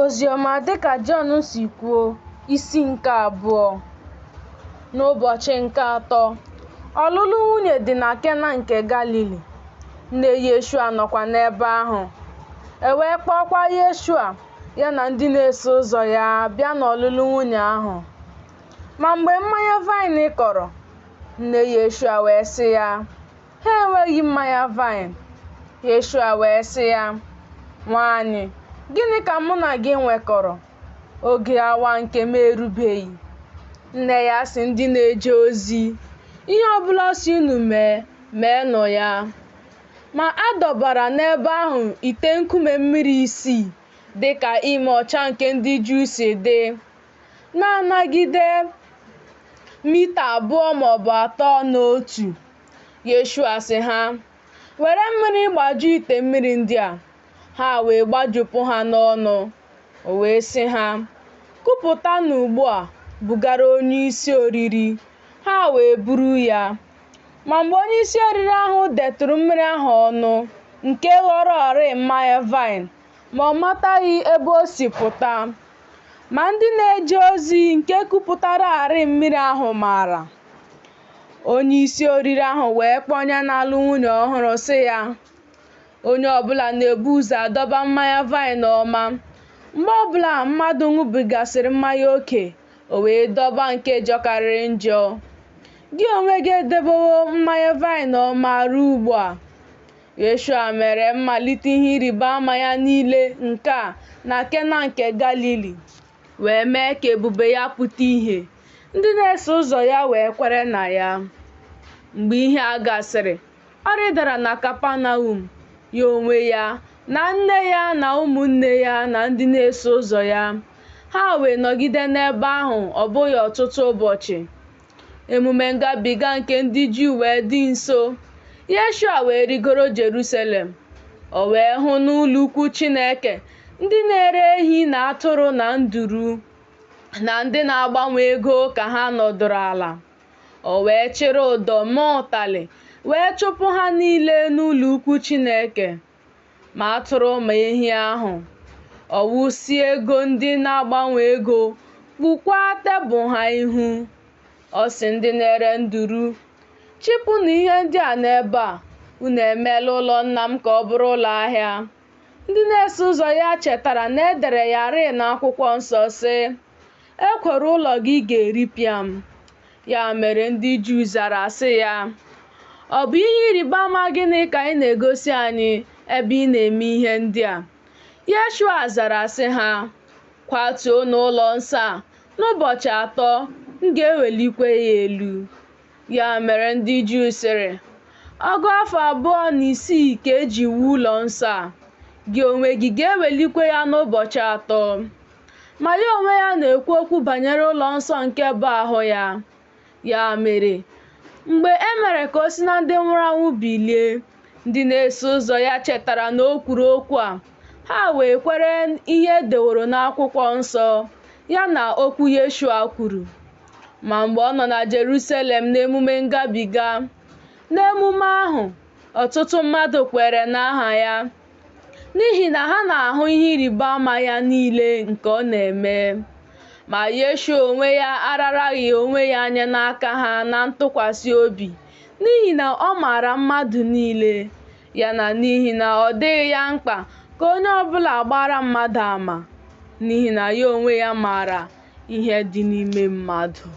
Oziọma dịka Jọn si kwuo isi nke abụọ N'ụbọchị nke atọ, ọlụlụ nwunye dị na Kena nke Galili, nne Yeshua nọkwa n'ebe ahụ. E wee kpọọkwa Yeshua ya na ndị na-eso ụzọ ya bịa n'ọlụlụ nwunye ahụ. Ma mgbe mmanya vaịn kọrọ, nne Yeshua wee sị ya, Ha enweghị mmanya vaịn. Yeshua wee sị ya, Nwanyị, gịnị ka mụ na gị nwekọrọ? Oge awa nke m erubeghị. Nne ya sị ndị na-eje ozi, Ihe ọ bụla ọ sị unu, meenụ ya. Ma a dọbara n'ebe ahụ ite nkume mmiri isii, dị ka ime ọcha nke ndị Juu si dị, na-anagide mita abụọ ma ọ bụ atọ n'otu. Yeshua sị ha, Were mmiri gbaju ite mmiri ndị a. Ha wee gbajupụ ha n'ọnụ. O wee sị ha, Kupụtanụ ugbu a bugara onyeisi oriri. Ha wee buru ya. Ma mgbe onyeisi oriri ahụ detụrụ mmiri ahụ ọnụ, nke ghọrọọrịị mmanya vaịn, ma ọ mataghị ebe o si pụta. Ma ndị na-eje ozi nke kupụtararị mmiri ahụ maara. Onye isi oriri ahụ wee kpọọ onye na-alụ nwunye ọhụrụ sị ya, Onye ọbụla na-ebu ụzọ adọba mmanya vaịn ọma. Mgbe ọbụla mmadụ ṅụbigasịrị mmanya oke, o wee dọba nke jọkarịrị njọ. Gị onwe gị edebewo mmanya vaịn ọma ruo ugbu a. Yeshua mere mmalite ihe ịrịba ama ya niile nke a na Kena nke Galili. wee mee ka ebube ya pụta ihe, ndị na-eso ụzọ ya wee kwere na ya. Mgbe ihe a gasịrị, ọ rịdara na Kapanaum, ya onwe ya, na nne ya na ụmụnne ya na ndị na-eso ụzọ ya. Ha wee nọgide n'ebe ahụ ọ bụghị ọtụtụ ụbọchị. Emume ngabiga nke ndị Juu wee dị nso. Yeshua wee rigoro Jerusalem. O wee hụ n'ụlọukwu Chineke ndị na-ere ehi na atụrụ na nduru na ndị na-agbanwe ego ka ha nọdụrụ ala. O wee chịrị ụdọ mee ụtalị wee chụpụ ha niile n'ụlọukwu Chineke. ma atụrụ ma ehi ahụ. Ọ wụsị ego ndị na-agbanwe ego, kpukwaa tebụl ha ihu. Ọ sị ndị na-ere nduru, Chịpụnụ ihe ndị a n'ebe a, unu emeela ụlọ nna m ka ọ bụrụ ụlọ ahịa. Ndị na-eso ụzọ ya chetara na e dere ya rịị n'akwụkwọ nsọ, sị, Ekworo ụlọ gị ga-eripịa m. Ya mere ndị Juu zara sị ya, Ọ bụ ihe ịrịba ama gịnị ka ị na-egosi anyị ebe ị na-eme ihe ndị a? Yeshua zara sị ha, Kwatuonụ ụlọ nsọ a, n'ụbọchị atọ m ga-ewelikwa ya elu. Ya mere ndị Juu sịrị, Ọgụ afọ abụọ na isii ka e ji wuo ụlọ nsọ a, gị onwe gị ga-ewelikwa ya n'ụbọchị atọ? Ma ya onwe ya na-ekwu okwu banyere ụlọ nsọ nke bụ ahụ ya. Ya mere, mgbe e mere ka o si na ndị nwụrụ anwụ bilie, ndị na-eso ụzọ ya chetara na o kwuru okwu a, ha wee kwere ihe e deworo n'akwụkwọ nsọ, ya na okwu Yeshua kwuru. Ma mgbe ọ nọ na Jerusalem n'emume ngabiga, n'emume ahụ, ọtụtụ mmadụ kwere n'aha ya. n'ihi na ha na-ahụ ihe ịrịba ama ya niile nke ọ na-eme. Ma Yeshua onwe ya araraghị onwe ya nye n'aka ha na ntụkwasị obi, n'ihi na ọ maara mmadụ niile, ya na n'ihi na ọ dịghị ya mkpa ka onye ọ bụla gbaara mmadụ ama, n'ihi na ya onwe ya maara ihe dị n'ime mmadụ.